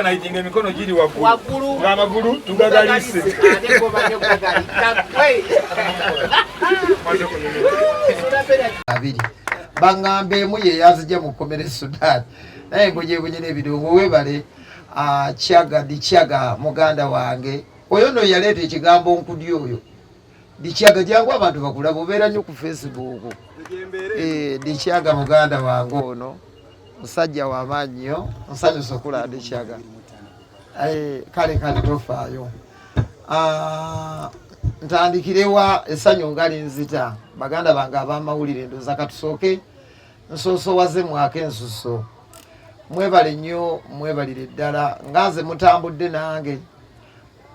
Naitinga emikono giri waggulu ng'amagulu tugagalise. Abiri bang'amba emu ye yazija mu kkomera e Sudan naye mbonyebonye n'ebirungo webale ah, kyaga ndi kyaga muganda wange oyo no yaleeta ekigambo nkudi oyo Dichaga jangu abantu bakulaba obeera nnyo ku Facebook. Eh, Dichaga muganda wange ono musajja wa maanyi nnyo nsanyusa okula Dichaga. Eh, kale kale tofaayo. Ah, ntandikirewa essanyu nga linzita baganda bange ab'amawulire ndoza katusooke nsoosowaze mwaka ensuso mwebale nnyo mwebalire ddala nga nze mutambudde nange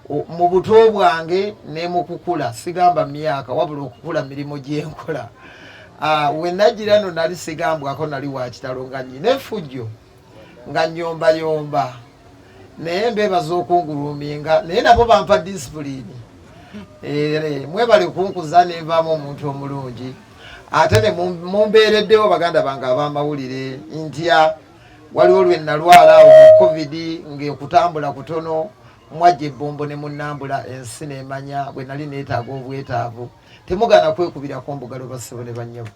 mu buto bwange ne mu kukula sigamba myaka wabula okukula mirimu gyenkola ah, wenajira no nali sigambwako nali wakitalo nga nyina efujjo nga nyombayomba naye mbebaza okunguluminga naye nabo bampa disipulini eh, mwebale kunkuza nenvaamu omuntu omulungi ate ne mumbeereddewo baganda bange abamawulire ntya waliwo lwe nalwala awo mu covid ng'okutambula kutono mwajja ebbombo ne munnambula ensi neemanya bwe nali neetaaga obwetaavu temugaana kwekubirako mbugalo bassebo ne bannyabo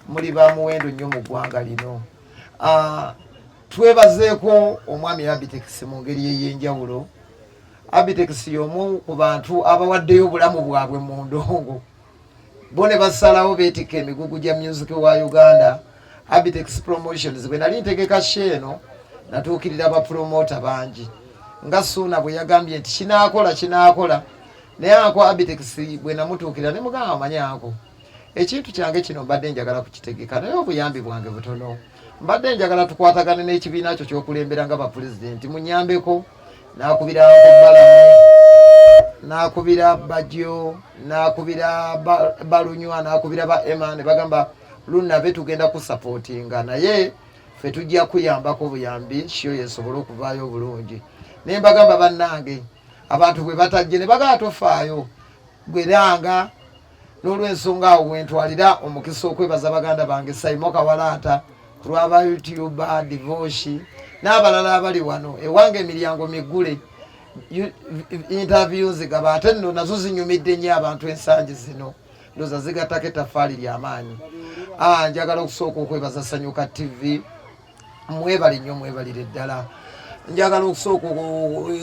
muli ba muwendo nnyo mu ggwanga lino ah, twebazeeko omwami abitex mu ngeri ey'enjawulo abitex y'omu ku bantu abawaddeyo obulamu bwabwe mu ndongo bo ne basalawo beetikka emigugu gya music wa uganda abitex promotions bwe nali ntegeka sheeno natuukirira abapromota bangi nga suuna bwe yagambye nti kinaakola kinaakola naye ako abitex bwe namutuukirira ne mugamba manyi ako ekintu kyange kino mbadde njagala kukitegeka naye obuyambi bwange butono mbadde njagala tukwatagane n'ekibiina kyo kyokulembera nga bapulezidenti munyambeko nakubira balamu nakubira bajo nakubira balunywa nakubira ba ema ne bagamba lunave tugenda kusapotinga naye fe tujja kuyambako buyambi shiyo yesobole okuvaayo obulungi naye mbagamba bannange abantu bwe batajje ne bagala tofaayo gweranga n'olwensonga awo wentwalira omukisa okwebaza baganda bange saimo kawalaata ku lwa ba youtuba devoshi n'abalala abali wano ewange emiryango miggule interview nzigaba ate nno nazo zinyumidde nnyo abantu ensangi zino ndoza zigattako ettafaali ly'amaanyi ah, njagala okusooka okwebaza sanyuka ttivi mwebale nnyo mwebalire ddala njagala okusooka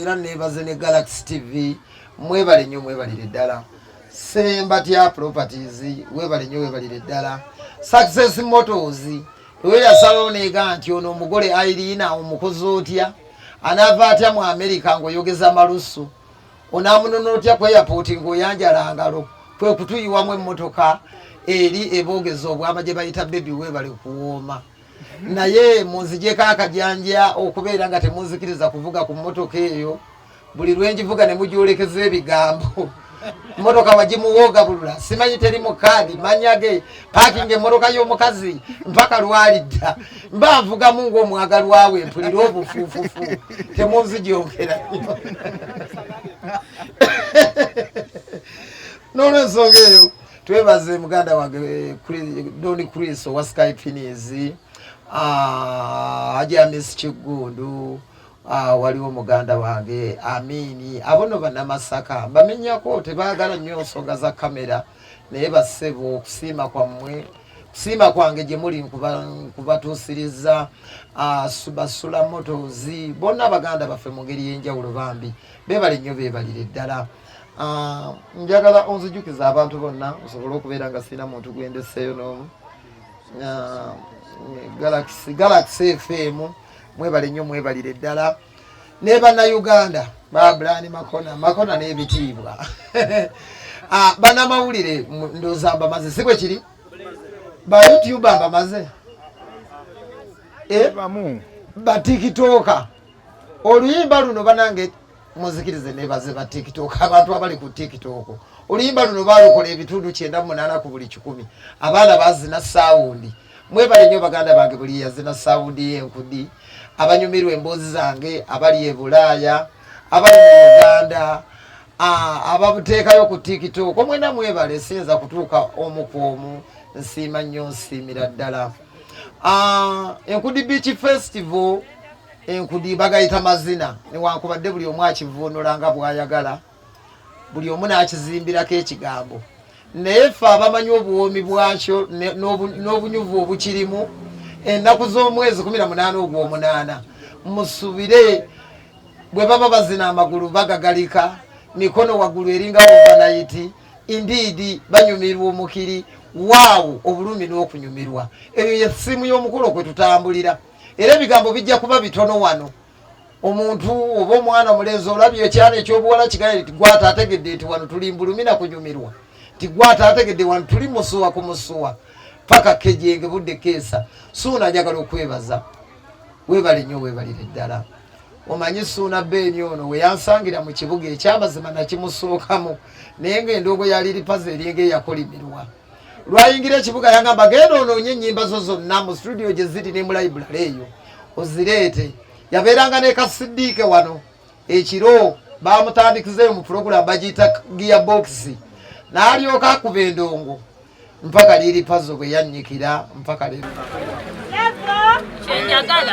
era nebaze ne galaxy tv mwebale nnyo mwebalire ddala sembatya properties webale nnyo webalire ddala success motors weyasalawo neega nti ono omugole airina omukozi otya anaava atya mu amerika ngaoyogeza malusu onamunona otya ku airport ngaoyanjala ngalo kwe kutuyiwamu emmotoka eri eboogeza obwama gye bayita bebi webale kuwooma naye munzigyeko akajanja okubeera nga temunzikiriza kuvuga ku mmotoka eyo buli lwenjivuga ne mugyolekeza ebigambo mmotoka wagimuwoogabulula simanyi teri mu kaadi manya ge paakinga emmotoka y'omukazi mpaka lwalidda mba nvugamu ng'omwagalwa we mpulira obufuufufu temunzigyongera n'olwensonga eyo twebaze muganda wange eh, doni chris owa sky finis ah, ajamis kiggundu ah, waliwo muganda wange amini abono banamasaka bamenyako tebagala nyo nsonga za kamera naye basebo okusiima kwammwe siima kwange gye muli nkubatuusiriza ah, basula motozi bonna abaganda baffe mu ngeri y'enjawulo bambi beebale nnyo beebalire ddala Ah, njagala onzijukiza abantu bonna nsobole okubeera nga sirina muntu gwendeseeyo n'omu ah, galaxy galaxy fm mwebale nnyo mwebalire ddala ne bannayuganda babrani makona makona n'ebitiibwa ah, banamawulire ndoza mbamaze si bwe kiri ba youtube mbamaze eh? batikitoka oluyimba luno banange muzikirize nebaze ba tiktok abantu abali ku tiktok oluyimba luno balukola ebitundu kyenda mu munaana ku buli kikumi abaana bazina sawundi mwebale nnyo baganda bange buli yazina sawundi yenkudi abanyumirwa emboozi zange abali e bulaaya abali mu uganda ababuteekayo ku tiktok omwena mwebale siyinza kutuuka omu ku omu nsiima nnyo nsiimira ddala enkudi beach festival enkudi bagayita mazina newankubadde buli omu akivuunula nga bwayagala buli omu n'akizimbirako ekigambo naye ffe abamanyi obuwoomi bwakyo n'obunyuvu obukirimu ennaku z'omwezi kumi na munaana ogw'omunaana musubire bwe baba bazina amagulu bagagalika mikono waggulu eringa obanayiti indiidi banyumirwa omukiri waawo obulumi n'okunyumirwa eyo ye ssimu y'omukolo kwe tutambulira era ebigambo bijja kuba bitono wano omuntu oba omwana omulenzi olabye ekyana ekyobuwala kigale nti gwata ategedde nti wano tuli mbulumi na kunyumirwa nti gwata ategedde wano tuli musuwa ku musuwa paka kejenge budde keesa suuna njagala okwebaza webale nnyo webalire ddala omanyi suuna beeni ono weyansangira mu kibuga ekyamazima nakimusookamu naye nga endongo yaliripaza eryenge eyakolimirwa lwayingira ekibuga yagamba genda onoonye ennyimba zo zonna mu situdiyo gye ziri ne mu layibulale eyo ozireete yabeeranga ne kasidiike wano ekiro bamutandikizeeyo mu pulogulaamu bagiyita giya bokisi n'alyoka akuba endongo mpaka liiri pazo bwe yannyikira mpaka leero kyenyagala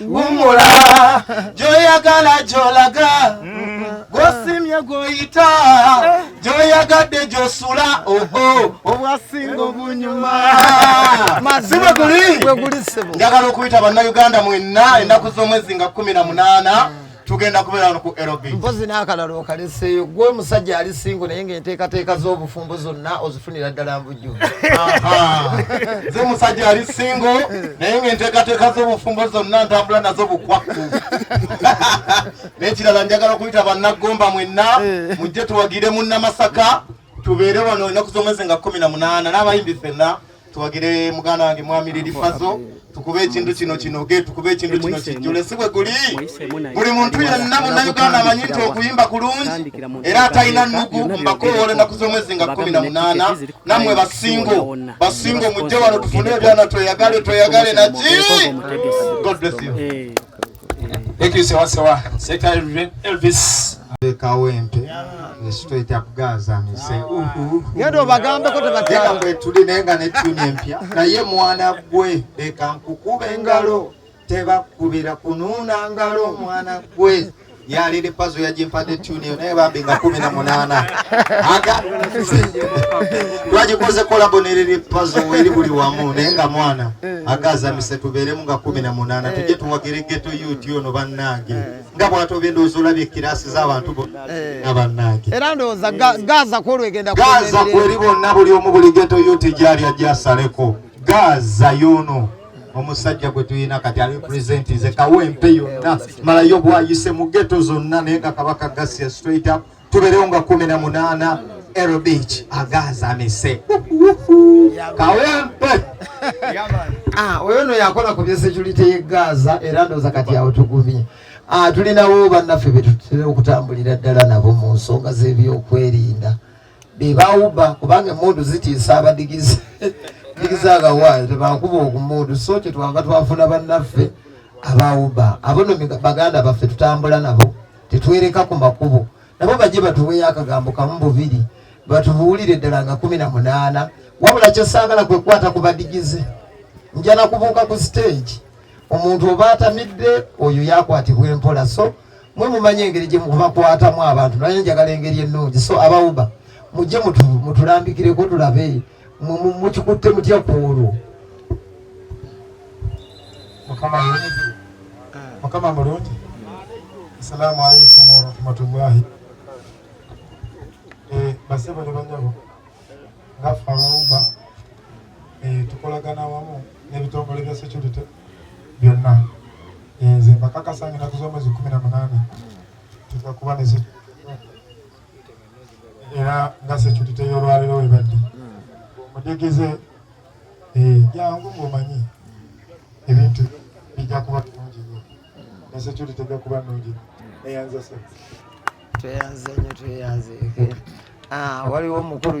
wumula gyoyagala gyolaga gwosimye gwoyita gyoyagadde gyosula oho obwasinga obunyuma sibweguli njagala okuyita bannayuganda mwenna ennaku z'omwezi nga kumi na munaana tugenda kubeera wano ku lb mpozi n'akalala okaleseeyo gwe omusajja ali singo naye ngaenteekateeka z'obufumbo zonna ozifunira ddala mbujju nze musajja ali singo naye ngaenteekateeka z'obufumbo zonna ntambula nazo bukwakku n'ekirala njagala okuyita bannaggomba mwenna eh. mujje tuwagire munnamasaka tubeere wano enaku z'omwezi nga kumi na munaana n'abayimbi fenna tuwagire muganda wange mwami lilifazo tukube ekintu kino kinoge tukube ekintu kino kijjule si bwe guli buli muntu yenna munnayuganda amanyi nti okuyimba kulungi era atalina nnugu mbakoowola ennaku z'omwezi nga kkumi na munaana nammwe basingo basingo mujje wano tufune ebyana tweyagale tweyagale naki god bless you eh. Thank you sewa sewa. Seka Elvis. Kawempe. Straight up Gaza me say uhu. Ngendo bagambe ko tebatya. Ngendo tuli nenga ne tune empya. Na ye mwana gwe eka nkukube ngalo. Teba kubira kununa ngalo mwana gwe. Ya lili pazo ya jimpade tune yo naye babi nga kumi na munana. Aga. Waji koze kolabo ne lili pazo weli buli wamu nenga mwana. agazamise tubeeremu nga kumi na munaana tujje tuwagire geto yuti ono bannange nga bwatobye ndowooza olabye ekiraasi z'abantu bonna eh. bannange era ndowooza gaza kwolwegenda gaza kweri bonna buli omu buli geto yuti gyali ajasaleko gaza yono omusajja gwe tulina kati ali pulezidenti nze kawempe yonna malayo bwayise mu geto zonna naye nga kabaka gasiya straight up tuberewo nga kumi na munana Aero Beach agazamise kawempe ah, oyo no yakola ku byesecurity ye Gaza era ndoza kati awo tugumye ah, tulinawo bannaffe betutera okutambulira ddala nabo mu nsonga z'ebyokwerinda bebawuba kubanga emundu zitiisa abadigizi digizi agawayo tebakuba ogumundu so kyetwava twafuna bannaffe abawuba abono baganda baffe tutambula nabo tetwereka ku makubo nabo bajje batuweyo akagambo kamu bubiri batubuulire ddala nga kumi na munaana wabula kyosaagala kwe kukwata ku badigize nja nakubuuka ku siteegi omuntu oba atamidde oyo yakwatibwa empola so mwe mumanyi engeri gye mubakwatamu abantu naye njagala engeri ennungi so abawuba mujje mutulambikireko tulabe mukikutte mutya ku olwo mukama mulungi mukama mulungi asalaamu aleikum warahmatullahi eh, basebo ne banyabo ngaffe abawumba eh, tukolagana wamu n'ebitongole bya security byonna eh, nze mbakakasa ngenda kuza omwezi kumi na munaana tujja kuba ne era nga securite y'olwaliro webadde omudigize eh, jangu ngaomanyi ebintu bijja kuba nungi nyo ne security tejja kuba nungi eyanza se tweyanze nyo tweyanze ah, waliwo omukulu